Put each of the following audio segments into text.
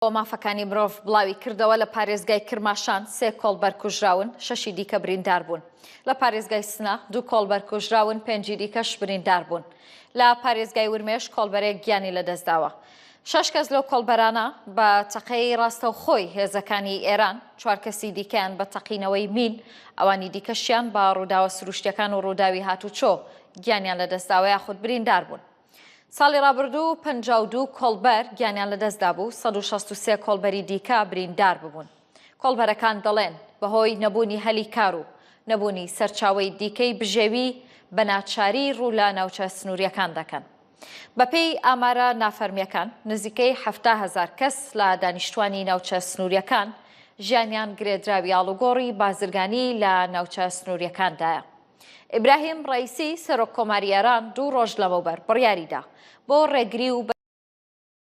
و مافەکانی مرۆڤ بڵاوی کردەوە لە پارێزگای کرماشان سێ کۆڵبەر کوژراون شەشی دیکە بریندار بوون لە پارێزگای سنە دوو کۆڵبەر کوژراون پێنجی دیکەش بریندار بوون لە پارێزگای ورمێش کۆڵبەرێک گیانی لەدەستداوە شش کەس لەو کۆڵبەرانە بە تەقەی ڕاستەوخۆی هێزەکانی ئێران چوار کەسی دیکەیان بە تەقینەوەی مین ئەوانی دیکەشیان بە ڕووداوە سروشتیەکان و ڕووداوی هاتوچۆ گیانیان لە دەستداوە یاخود بریندار بوون ساڵی ڕابردوو پەنجا و دوو کۆڵبەر گیانیان لەدەستدا بوو، سەد و شەست و سێ کۆڵبەری دیکە بریندار ببوون. کۆڵبەرەکان دەڵێن، بەهۆی نەبوونی هەلی کار و نەبوونی سەرچاوەی دیکەی بژێوی بە ناچاری ڕوو لە ناوچە سنوورییەکان دەکەن. بەپێی ئامارە نافەرمییەکان، نزیکەی حەفتا هەزار کەس لە دانیشتووانی ناوچە سنوورییەکان ژیانیان گرێدراوی ئاڵوگۆڕی بازرگانی لە ناوچە سنوورییەکاندایە. ئیبراهیم ڕەیسی سەرۆک کۆماری ئێران دوو ڕۆژ لەمەوبەر بڕیاری دا بۆ ڕێگری و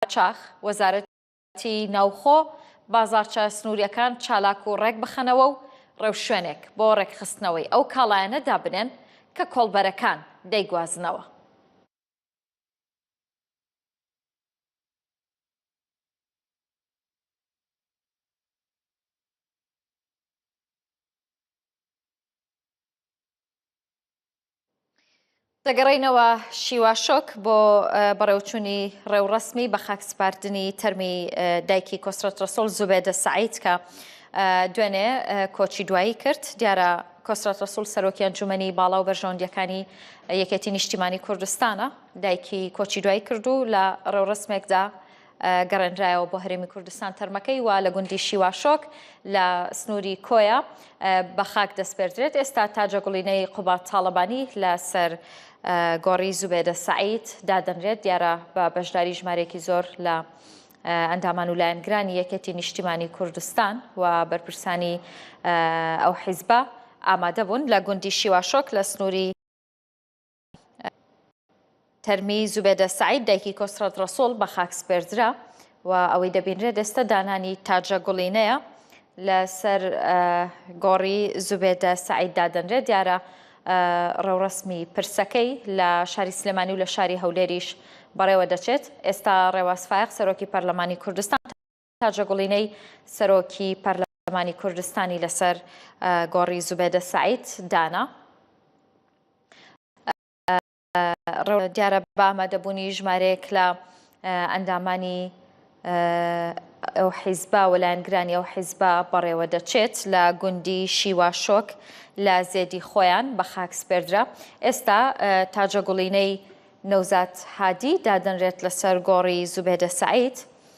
قاچاخ وەزارەتی ناوخۆ بازارچە سنووریەکان چالاک و ڕێک بخەنەوە و ڕێوشوێنێک بۆ ڕێکخستنەوەی ئەو کاڵایانە دابنێن کە کۆڵبەرەکان دەیگوازنەوە. دەگەڕێینەوە شیوا شۆک بۆ بەڕێوچوونی ڕێوڕسمی بە خاک سپاردنی تەرمی دایکی کۆسرەت ڕسۆل زوبێدە سعیت کە دوێنێ کۆچی دوایی کرد دیارە کۆسرەت ڕسول سەرۆکی ئەنجومنی باڵا و بەرژەوەندیەکانی یەکێتی نیشتیمانی کوردستانە دایکی کۆچی دوایی کردو لە ڕێوڕسمێکدا گەڕێنرایەوە بۆ هەرێمی کوردستان تەرمەکەی و لە گوندی شیواشۆک لە سنووری کۆیە بە خاک دەستپێردرێت ئێستا تاجە گوڵینەی قوبات تاڵەبانی لەسەر گۆڕی زوبێدە سعید دادەنرێت دیارە بە بەشداری ژمارێکی زۆر لە ئەندامان و لایەنگرانی یەکێتی نیشتیمانی کوردستان و بەرپرسانی ئەو حیزبە ئامادە بوون لە گوندی شیواشۆک لە سنووری تەرمی زوبێدە سەعید دایکی کۆسرەت ڕەسۆڵ بە خاک سپێردرا و ئەوەی دەبینرێت ئێستا دانانی تاجە گوڵینەیە لەسەر گۆڕی زوبێدە سەعید دادەنرێت دیارە ڕێوڕسمی پرسەکەی لە شاری سلێمانی و لە شاری هەولێریش بەڕێوە دەچێت ئێستا ڕێواز فایق سەرۆکی پەرلەمانی کوردستان تاجە گوڵینەی سەرۆکی پەرلەمانی کوردستانی لەسەر گۆڕی زوبێدە سەعید دانا دیارە بە ئامادەبوونی ژمارەیەک لە ئەندامانی ئەو حیزبا و لایەنگرانی ئەو حیزبا بەڕێوە دەچێت لە گوندی شیوا شۆک لە زێدی خۆیان بە خاک سپێردرا ئێستا تاجە گوڵینەی نەوزات هادی دادنرێت لەسەر گۆڕی زوبێدە سعید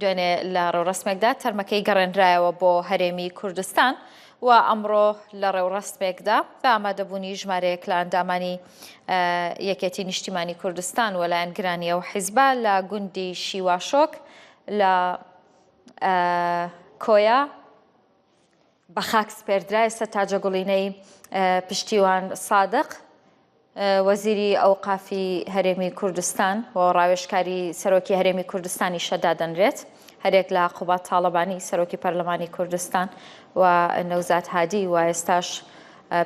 دوێنێ لە ڕێوڕەسمێکدا تەرمەکەی گەڕێنرایەوە بۆ هەرێمی کوردستان و ئەمڕۆ لە ڕێوڕەسمێکدا بە ئامادەبوونی ژمارەیەک لە ئەندامانی یەکێتی نیشتیمانی کوردستان و لایەنگرانی ئەو حیزبە لە گوندی شیواشۆک لە کۆیە بە خاک سپێردرا ئێستا تاجە گوڵینەی پشتیوان سادق وەزیری ئەوقافی هەرێمی کوردستان و ڕاوێشکاری سەرۆکی هەرێمی کوردستانی شەدادەنرێت هەرێک لە قوبات تاڵەبانی سەرۆکی پەرلەمانی کوردستان و نەوزات هادی و ئێستاش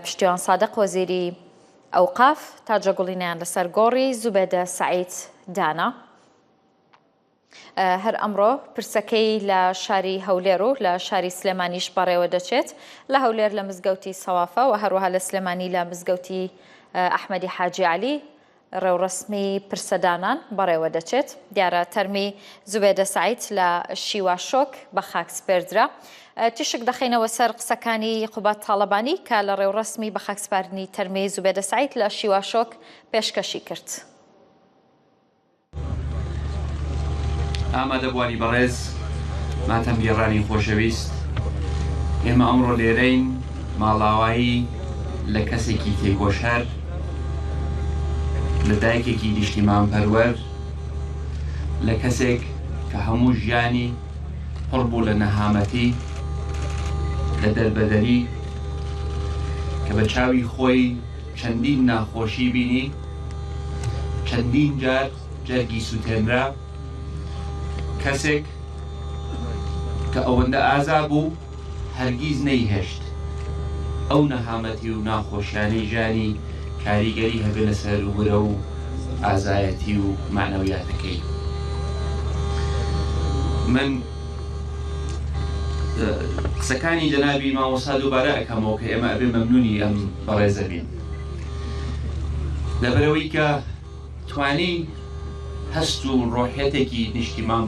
پشتیوان سادق وەزیری ئەوقاف تاجە گوڵینیان لەسەر گۆڕی زوبێدە سعید دانا هەر ئەمڕۆ پرسەکەی لە شاری هەولێر و لە شاری سلێمانیش بەڕێوە دەچێت لە هەولێر لە مزگەوتی سەوافە و هەروەها لە سلێمانی لە مزگەوتی ئەحمەدی حاجی علی ڕێوڕسمی پرسەدانان بەڕێوە دەچێت دیارە تەرمی زوبێدە سعیت لە شیوا شۆک بە خاک سپێردرا تیشک دەخینەوە سەر قسەکانی قوبات تاالبانی کە لە ڕێوڕسمی بە خاکسپاردنی تەرمی زوبێدە سعیت لە شیوا شۆک پێشکەشی کرد. ئامادەبوانی بەڕێز ماتەمگێڕانی خۆشەویست، ئێمە ئەمڕۆ لێرەین ماڵاوایی لە کەسێکی تێکۆشەر، لە دایکێکی نیشتیمانپەروەر، لە کەسێک کە هەموو ژیانی پڕ بوو لە نەهامەتی، لە دەربەدەری کە بە چاوی خۆی چەندین ناخۆشی بینی، چەندین جار جەرگی سوتێنرا، کەسێک کە ئەوەندە ئازا بوو هەرگیز نەیهێشت ئەو نەهامەتی و ناخۆشیانەی ژیانی کاریگەری هەبێنە سەر ورە و ئازایەتی و مەعنەویاتەکەی. من. قسەکانی جەنابی مامۆستا دووبارە ئەکەمەوە کە ئێمە ئەبێ مەمنونی ئەم بەڕێزە بین لەبەرەوەی کە توانی هەست و ڕۆحەتێکی نیشتیمان